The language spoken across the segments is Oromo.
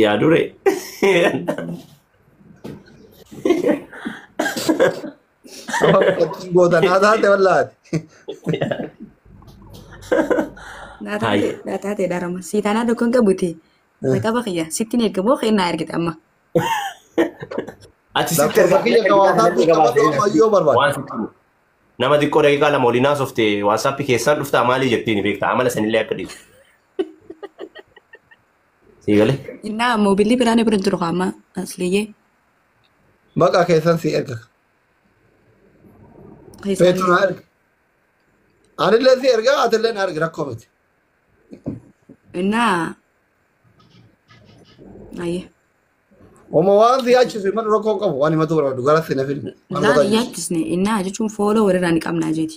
Yaa dure. Gootanaa taate wallaati. Hai. Daa taate dharama. Sii taanaa tokko hin qabuti. Jalqaba kiyya. Sitti hin ergamoo kennaa ergite amma. Ati sitti Lakkoofsa kiyya kan WhatsApp qabadhu ammayyoo barbaada. Waan sitti himu. Nama xiqqoo daqiiqaa lama waliin haasofte WhatsApp keessaan dhuftaa maalii jettiin beektaa amala sanillee akka dhiisu. Sii galee? Innaa moobilli biraan bira jiru amma asliyyee. Maqaa keessan si erga. Feetu na erga. Anillee si erga atillee na erga rakkoo miti. Innaa. Ayyee. Uma waan si yaachisu mana rakkoo hin qabu waan himatu barbaadu gara si na fili. Waan Innaa gotaa hin jirtu. yaachisne innaa jechuun fooloo walirraa ni qabnaa jeeti.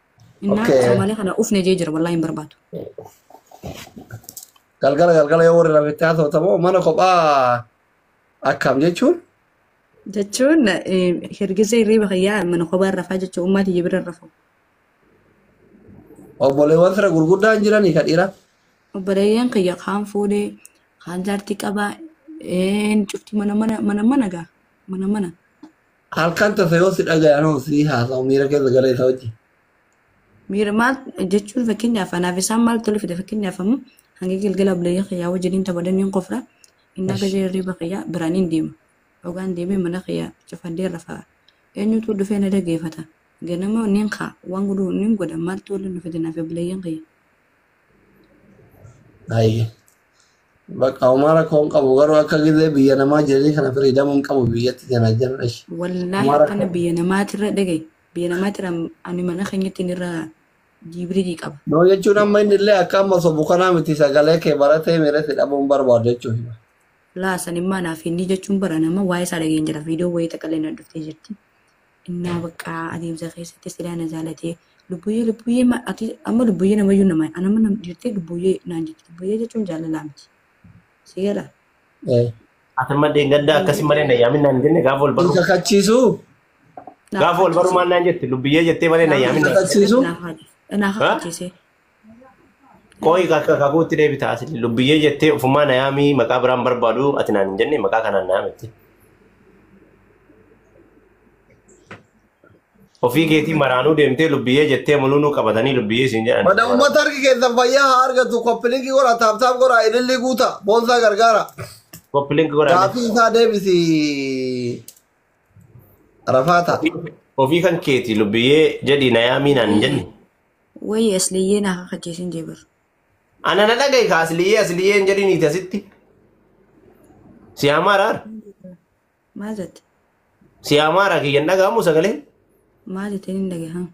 Innaa Okay. Soomaaliyaa kana ufne jee jira wallaahi hin barbaadu. Galgala galgala yoo warri rabetti haasofta moo mana kophaa akkam jechuun Jechuun hirgisa hirriiba kiyyaa mana kophaa rafaa jechuun ummaa tiyya bira rafu. obboleewwan fira gurguddaan jiranii ka dhiira. Obboleeyyan kiyya kaan fuudhee kaan jaartii qabaa een cufti mana mana mana mana gaa mana mana. Halkan tasa yoo si dhagaye anoo si haasa'u miira keessa gala isa wajjin. Miira maal jechuun fakkeenyaaf anaaf isaan maal tole fide fakkeenyaaf ammoo hanga galgala buleeyyaa kiyyaa wajjiniin taphadan niin qofra innaa Esh. gajee hirriba kiyyaa biraan hin deema. Ogaan deemee mana kiyyaa cufadhee rafaa. Eenyutu dhufee na dhageeffata. Ganama niin kaa waan godhu niin godha maaltu waliin dhufe jennaafi buleeyyan kiyya. Baay'ee. Bakka homaa rakkoo hin qabu garuu akka gizee biyya namaa jiranii kana firiidamuu hin qabu biyyatti kana jenna ishi. Wallaahi Homaa akkana rakkoo. biyya namaatirra dhagaye. Biyya namaatirra ani mana keenyatti inni irra jibriilii qaba. Noo jechuun amma inni illee akka amma sobu kanaa miti sagalee kee baratee miira si dhabuun barbaadu jechuudha. Laa sanimmaa naaf inni jechuun bara nama waa'ee isaa dhageen jira. Viidiyoo wayii takka illee na dhuftee jirti. innaa bakka adeemsa keessatti silaa na jaalatee lubbuyyee lubbuyyee ma- ati amma lubbuyyee namayyuu nama an amma nam dhiirtee lubbuyyee naan jetti lubbuyyee jechuun jaalalaa miti si gala Eh, Ati amma deengaddaa akkasii malee na yaamin naan jenne gaafa wal barru. Isa kachiisu Gaafa wal barru maal naan jette lubbiyyee jettee malee na yaamin naan. kakachiisu? naa kakachiisee Qoyi kakka kakuutti deebita asli lubbiyyee jettee ofumaa na yaamii maqaa biraan barbaadu ati naan hin jenne maqaa kanaan na yaamette. Ofii keetii maraanuu deemtee lubbiyyee jettee mulunuu qabatanii lubbiyyee siin jedhan. Mana uummata harki keessan fayyaa haa argatu koppilinki godha taaptaap godha ilillii guuta boonsaa gargaara. Koppi link godhaan Gaafii isaa deebisi rafaata. ofii kan keetii lubbiyyee jedhii na yaamii naan hin jenne. Wayii asliyyee naa kakachiisin jee bar. Ana na dhagahi ka asliyyee asliyyee hin jedhin iti asitti. Si amaara ar. Maal jette? Si amaara kiyya hin dhagahamu sagalee. Maal jetteen hin dhagahan?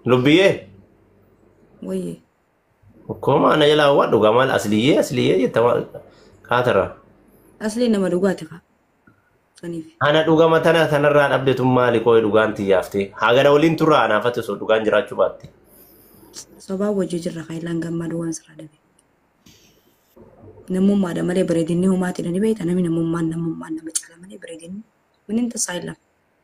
Lubbiyyee. Wayii. Akkuma ana jalaa waan dhugaa maal asliyyee asliyyee jetta maal kaatarraa. Asliin nama dhugaati kaa. Saniif. Ana dhugama tana tanarraa dhabde tun maali qooyi dhugaan tiyyaafte. Hagana waliin turra anaafate osoo dhugaan jiraachuu baatte. Sobaa wajjin jirra kaayilaan gammadu waan sirraa dhabe. Namummaadha malee bareedinni homaatiidha ni beekta namni namummaan namummaan nama caala malee bareedinni winin tasaa hin lafa.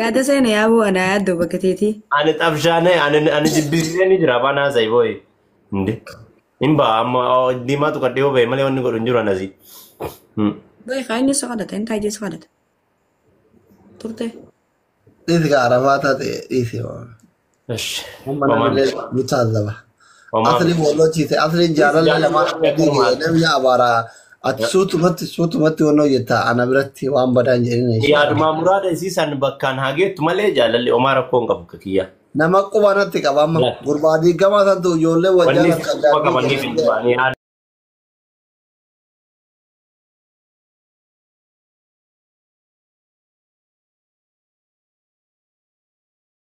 Yaada seena yaa boo anaa yaaddoo bakka teetii. Ani xabshaanee ani ani jibbisiisee ni jira afaan haasa'e booyi. Inde. Hin ba'a amma oo, diimaatu kan dhiyoo ba'e malee wanni godhu hin jiru anasi. Hmm. Bayi kaa inni si kadhata inni taa'ee si kadhata. Turte. Dhiisi kaa arabaa taate dhiisi. Ish, Amma Oman. namni ni taasisa. Oman. Asliin walloo ciise. Asliin jaalallee lama Jaalallee adii akkuma jedhe namni abaaraa. Ati Yaa- suutumatti suutumatti wannoo jetta ana biratti waan badaan jedhin ishee. Yaadumaa muraada isii san bakkaan haa geettu malee jaalalli omaa rakkoo hin qabu akka kiyyaa. Nama quba natti qaba amma. Laata. Gurbaa diigamaa santu ijoollee wal Wanni jaalatu quba addaatti qabaniif hin jedhee. du'anii haadha.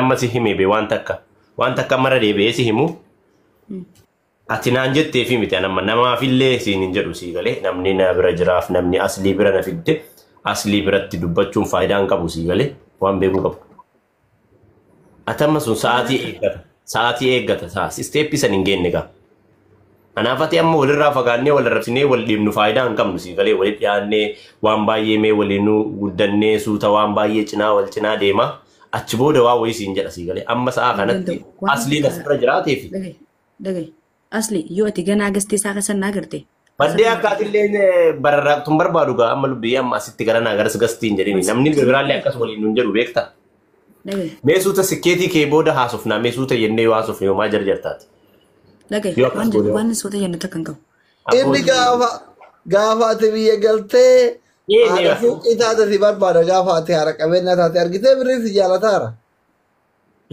Amma si himee bee waan takka. Waan takka mara deebi'ee si himu. Ati naan jettee fi miti anamma namaafillee siin hin jedhu sii galee namni na bira jiraaf namni aslii bira na fidde aslii biratti dubbachuun faayidaa hin qabu sii galee waan beekuu qabu. Ati amma sun sa'aatii eeggata. Sa'aatii eeggata. Isteeppii san hin geenne gaa. Kanaaf ati amma walirraa fagaannee wal arrabsinee wal dhiibnu faayidaa hin qabnu sii galee walitti dhiyaannee waan baay'ee mee waliin guddannee suuta waan baay'ee cinaa wal cinaa deema achi booda waa wayii siin jedha sii galee amma sa'a Hin kanatti danda'u. Waan asliin takka- asirra jiraatee fi Dhagahi. Dhagahi. Asli yoo ati ganaa gastee isaa keessa naa garte. baddee akka atilleen bararraaqtuun barbaadu gaa amma lubbii amma asitti gara naa garas gastiin jedhini namni biraallee akkas waliin nun jedhu beekta. Dhagaye. Mee suuta sikkeetii kee booda haasofnaa mee suuta jennee yoo haasofne homaa jarjartaati. Dhagaye. Yoo akkas Waan goone- waan soota jennu takka hin qabu. Inni gaafa gaafa ati biyya galtee Ee, haadha deema. suuqii taate si barbaada gaafa ati haadha qabeenya taate argitee birrii si jaalataara.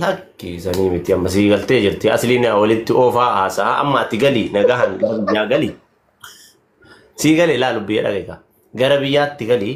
Lakki sanii miti amma sii galtee jirti asliin walitti oofaa haasaa amma ati galii nagahan gara biyyaa galii sii galee laalu biyya dhagaika gara biyyaatti galii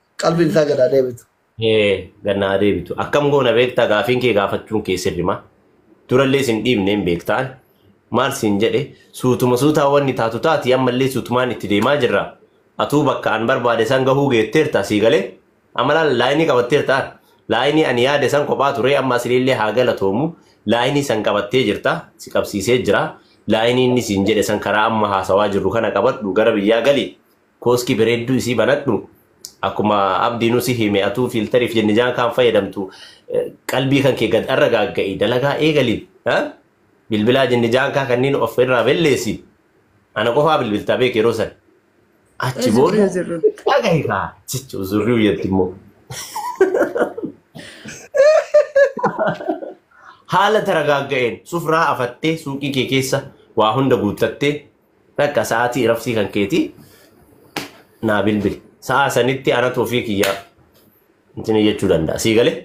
qalbiin isaa gadaa deebitu. Hee gannaa deebitu. Akkam goona beektaa gaafiin kee gaafachuun kee sirrima. Durallee sin dhiibne hin beektaan. Maal siin jedhe suutuma suutaa wanni taatu taati ammallee suutumaan itti deemaa jirra. Atuu bakka an barbaade san gahuu geetteerta sii galee. Amalaan laayinii qabatteerta ar. Laayinii ani yaade san kophaa turee amma asiliillee haa galatoomu. Laayinii san qabattee jirta si qabsiisee jira. Laayinii inni siin jedhe san karaa amma haasawaa jirru kana qabadhu gara biyyaa galii. Kooski bereedduu isii banadhu akkuma abdiinu si hime atuu fiiltariif jenne jaan kaan fayyadamtu qalbii kan kee gad arra gaagga'i dalagaa eegali bilbilaa jenne jaan kaa kanniin of irraa belleessi ana qofaa bilbiltaa beek yeroo san achi booda dhagahi kaa jecha uzurrii uyyatti immoo haala taragaagga'een sufraa afattee suuqii kee keessa waa hunda guuttattee Takka sa'aatii iraftii kan keetii naa bilbili. Sa'aa sanitti anatu ofii kiyyaa intini jechuu danda'a. Sii galee?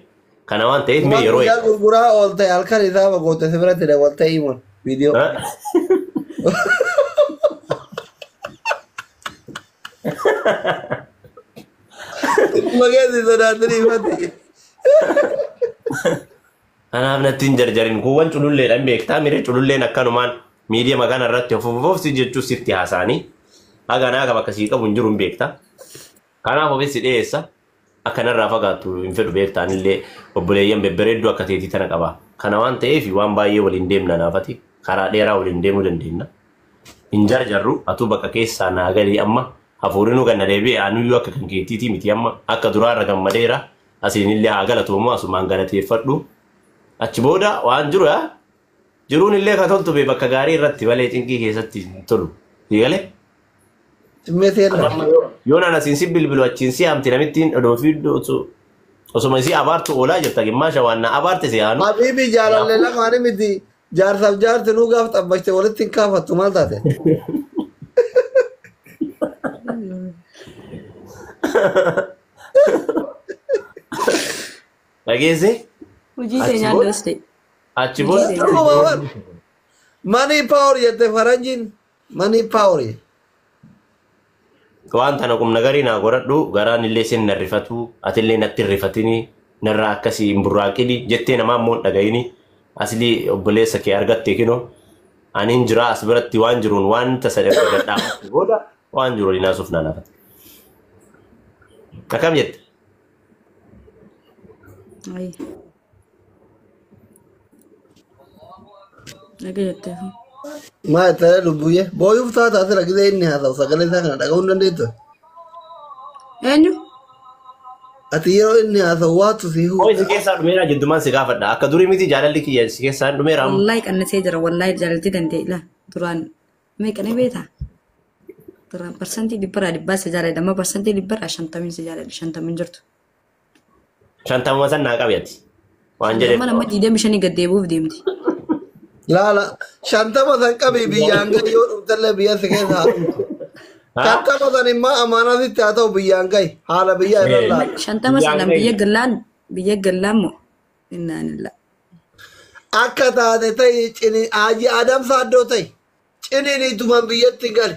Kana waan ta'eef mee Waan yeroo guyyaa gurguraa oolte halkan isaa bagoote si biratti dabaltee himuun viidiyoo. Ha? Mageessi sodaatanii mati. Anaaf natti hin jarjarin kuuwwan cululleedha hin beektaa mire cululleen akkanumaan miidiyama kana irratti of of of si jechuus sitti haasaanii haga naa bakka sii qabu hin jiru hin beektaa. Kanaaf ofis si dhiyeessa akka narraa fagaattu hin fedhu beektaa anillee obboleeyyan bebbereedduu akka teetii tana qaba. Kana waan ta'eef waan baay'ee waliin deemna naafati karaa dheeraa waliin deemuu dandeenya. Hin jarjarru atuu bakka keessaa naa galii amma hafuurinuu ganna deebi'e anuyyuu akka kan keettiitii miti amma akka duraarra gammadeera. Asiinillee haa galatoomu asumaan galateeffadhu. Achi booda waan jiru yaa jiruun illee ka toltu bee bakka gaarii irratti malee cinqii keessatti hin tolu. Sii galee? Dhimmeetii irra. Amma yoo yoo naan asiin si bilbilu achiin si hamti namittiin odoo fi osoo- osuma isii abaartu oolaa jirta gimmaasha waan na abaarte si aanu. Habiibi jaalallee Kanaafuu lamaanii miti. Jaarsaaf jaarti nuu gaaf xabbashte walitti hin kaafattu maal taate? Dhageessee? Hojii Achi keenyaa booda? daste. Achi booda? Hojii keenyaa. Manii paawar jette faranjiin. Manii paaworii. Waan tana qumna garii naa godhadhu garaan illee sin na rifatu atillee natti hin rifatini narraa akkasii hin burraaqini jettee namaa immoo hin dhagayini asilii obboleessa kee argatte kino aniin jiraa as biratti waan jiruun waan tasa irra gadhaamatti booda waan jiru waliin haasuuf naan hafate. Akkam jette? Ayya. Naga jettee fi. Maa itti ta'e lubbuuyye. Booyuuf taata asira gisee inni haasa'u sagalee isaa kana dhaga'uu hin dandeettu. Eenyu? Ati yeroo inni haasa'u waatu si Hoo isi huudha. keessaa dhumeera jiddumaan si gaafadha. Akka durii miti jaalalli kiyya isi keessaa hin dhumeera. amma. Wallaahi qannasee jira. Wallaahi jaalalti danda'e ila. Duraan meeqa ni beekta? Duraan parsantii dhibbaraa dhibbaa si jaaladha. Amma parsantii dhibbaraa shantamiin si jaaladha. Shantamiin jirtu. Shantamuma san naa qabi ati. Waan jedhe. Amma amma diidamii shanii gad deebi'uuf deemti. Laala shantama san qabii biyyaan gahi yoo dhuftallee biyya si keessa haa dhuftu. Shantama san immoo amaanaa sitti haa ta'u biyyaan gahi haala biyyaa irra laala. Shantama Biyyaan sanaan gahi. biyya gallaan biyya gallaan moo innaan illaa. Akka taate ta'i cini haaji Adam Saaddoo ta'i. Ciniin ituman biyyatti gali.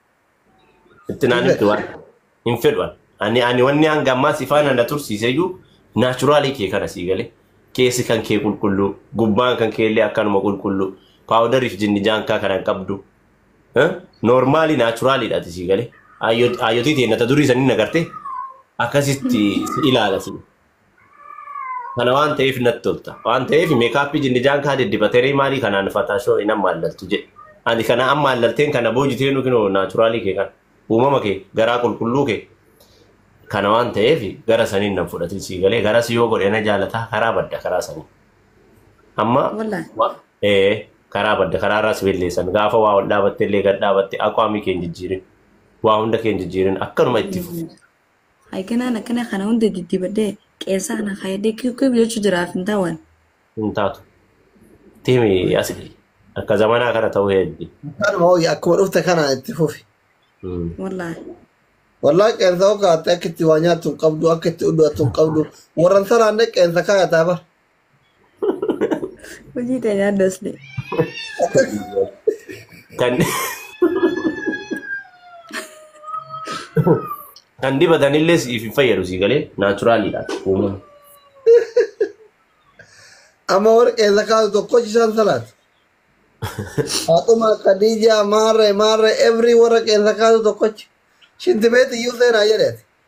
Itti naan himtu waan hin fedhu ani. Ani ani wanni hanga ammaa si faana na tursiise iyyuu naachuraalii kee kana sii galee keessi kan kee qulqulluu gubbaan kan kee illee akkanuma qulqulluu paawudariif jinni jaankaa kana hin qabdu. Noormaalii naachuraaliidha ati sii galee. Aayyotii tee nata durii sanii na gartee akkasitti si ilaala si. Kana waan ta'eef natti tolta. Waan ta'eef meekaappii jinnijaan kaa diddibateree maalii kanaan fataashoo hin ammaallaltu jedhe. Ani kana ammaallalteen kana boojitee nu kinoo naachuraalii kee kana. Uumama kee garaa qulqulluu kee. Kana waan ta'eef gara saniin nan fudhatin sii galee gara si yoo godhe na jaalataa karaa badda karaa sanii. Amma Wallahi. wa- ee karaa badda karaa irraa si belleessan gaafa waa ol dhaabatte illee gad dhaabatte aqwaamii kee hin jijjiirin. Waa hunda kee hin jijjiirin akkanuma itti fufi. Hay kanaan akkana kana hunda diddibadhee qeensa kana kaayadhee kib kib jechuu jiraaf hin taawaan. hin taatu. Timi asi akka zamanaa kana ta'uu heddi. Kanuma hooyi akkuma dhufte kana itti fufi. Wallaahi. Wallaahi qeensa hoo kaatte akka itti waa nyaattu hin qabdu akka itti uddu attu hin qabdu warran saraan qeensa kaayataa bar. Hojii ta'e yaadda asli. Kan kan dibatanillee siif hin fayyadu sii galee naachuraaliidha uumama. Amma warqee zakaatu tokko isaan salaat. Faatuma Khadija maarre maarre every warqee zakaatu tokkochi. Shinti beeti iyyuu seenaa jedheeti.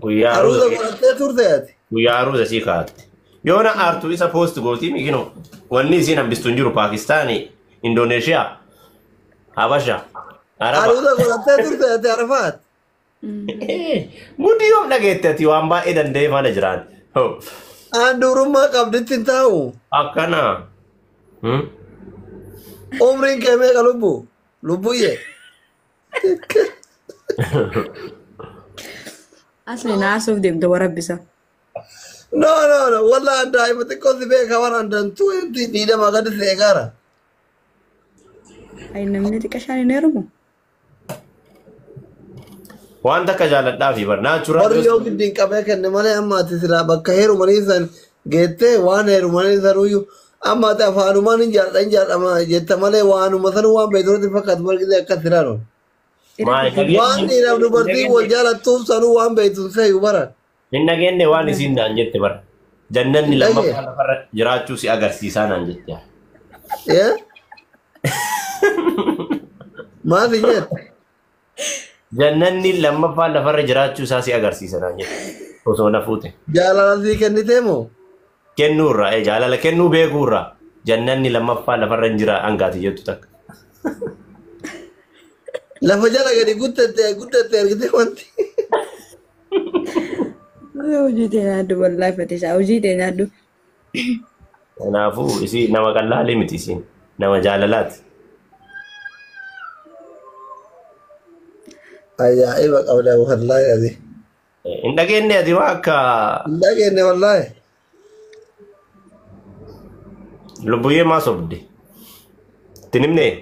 Guyyaa Aruuza aruuza godhattee turte ati. guyyaa aruuza sii kaa'atte. Yoo na aartu isa poost gootii miikino wanni isiin hambistu hin jiru Paakistaanii, Indooneeshiyaa, Habasha, Araba. Aruuza godhattee turte ati Arafaat. Mudii yoom dhageette ati waan baay'ee danda'ee faana jiraan. Hoo, Aan dubrummaa qabditti hin taa'u. Akkana. Hmm? Umriin kee meeqa lubbu? Lubbuyyee. Asli naasuuf deemte warabbisa. No, no, no. Wallah daa'ima xiqqoo si beeka waan andaan tuweetti miidhama gadi si eegaara. Ay namni xiqqa shaan hin heerumu. Waan takka jaalladhaa fi bar naachuraal Warri yoo giddiin qabee kenne malee amma ati silaa bakka heerumanii san geettee waan heerumanii sanuyyuu amma ati afaanumaan hin jaadha hin jaadhama jetta malee waanuma sanuu waan beektuutti fakkaatu margitee akkas siraan ol. Maali dhageenya? Waan dhiiraaf dubartii wal jaalattuuf sanuu waan beektuun seeyu bara. Hin dhageenye waan isiin naan jette bara. Jannanni Hin lammaffaa dhageenye. lafarra jiraachuu si agarsiisaa naan jette. Ee? Maal si jette? Jannanni lammaffaan lafarra jiraachuu isaa si agarsiisa naan jedhe osoo na fuute. Jaalala sii kennitee moo? Kennuu irraa ee jaalala kennuu beekuu irraa jannanni lammaffaa lafarra hin jira hangaati jettu takka. Lafa jala gadi guddatte guddatte argitee wanti. Hojii tee nyaadhu wallaahi fatisaa hojii tee nyaadhu Kanaafuu isii nama qallaalee miti isiin nama jaalalaati. Ajaa'iba qabda wallaahi ati. Hin dhageenye ati waa akka Hin dhageenye wallaahi. lubbuyyee maa sobde. Itti nimnee?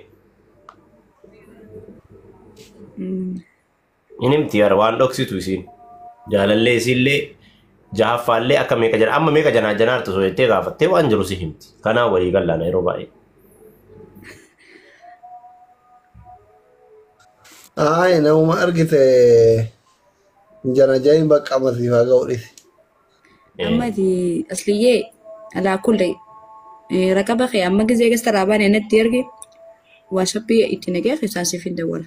Hin himti yaada waan dhoksitu isiin. Jaalallee isiillee jahaffaallee akka meeqa jana amma meeqa janaa janaartu osoo jettee gaafattee waan jiru si himti. Kanaa walii gallaana yeroo baay'ee. Ayi nama argite jana jahin bakka amasiif haa ga'u dhisi. amma Eh, ati asliyyee alaa kulle eh, raqaba kee amma gizee gasta raabaan natti erge waasappii itti nagee keessaan siif hin dawwala.